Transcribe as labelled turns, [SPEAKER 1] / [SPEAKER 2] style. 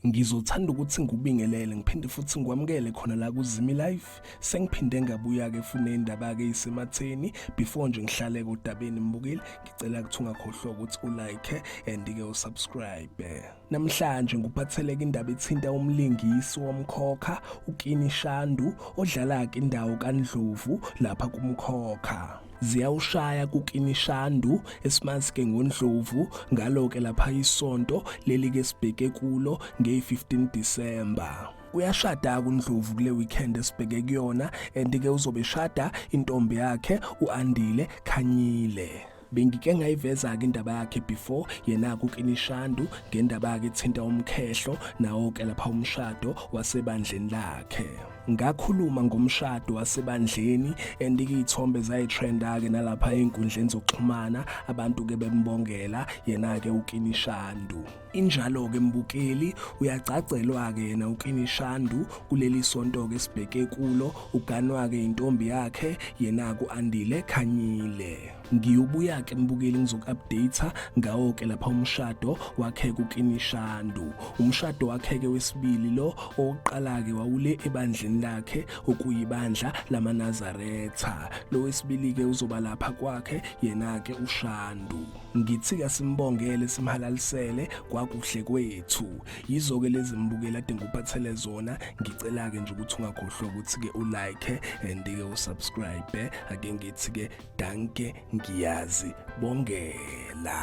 [SPEAKER 1] ngizothanda ukuthi ngikubingelele ngiphinde futhi ngikwamukele khona la kuzimi life sengiphinde ngabuya-ke fune indaba-ke isematheni before nje ngihlale kodabeni mbukile ngicela ukuthi ungakhohlwa ukuthi ulike and-ke usubscribe Namhlanje ngikuphatheleka indaba ethinta umlingisi womkhokha uKini Shandu odlala-ke indawo kaNdlovu lapha kumkhokha. ziyawushaya kukinishandu esimazi-ke ngondlovu ngalo-ke lapha isonto leli-ke sibheke kulo ngeyi-15 disemba uyashada kundlovu kule weekend esibheke kuyona and-ke uzobe shada intombi yakhe u-andile khanyile bengike ngayiveza-ke indaba yakhe before yena-ke ukinishandu ngendaba-ke ethinta umkhehlo nawo-ke lapha umshado wasebandleni lakhe ngakhuluma ngomshado wasebandleni and iy'thombe zayithrenda-ke nalapha ey'nkundleni zokuxhumana abantu-ke bembongela yena-ke ukinishandu Injalo-ke mbukeli, uyagcagcelwa-ke yena uKinishandu kuleli sonto-ke sibheke kulo, uganwa-ke yintombi yakhe yena ku-Andile Khanyile. Ngiyobuya-ke mbukeli ngizoku-update ngawo-ke lapha umshado wakhe kuKinishandu. Umshado wakhe-ke wesibili lo owokuqala-ke wawule ebandleni lakhe okuyibandla lamaNazaretha. Lo wesibili-ke uzoba lapha kwakhe yena-ke uShandu. ngithi kasimbongele simhalalisele kwakuhle kwethu yizo-ke lezi mbukela ade ngikuphathele zona ngicela-ke nje ukuthi ungakhohlwa ukuthi-ke ulike and-ke usubscribe ake ngithi-ke danke ngiyazi bongela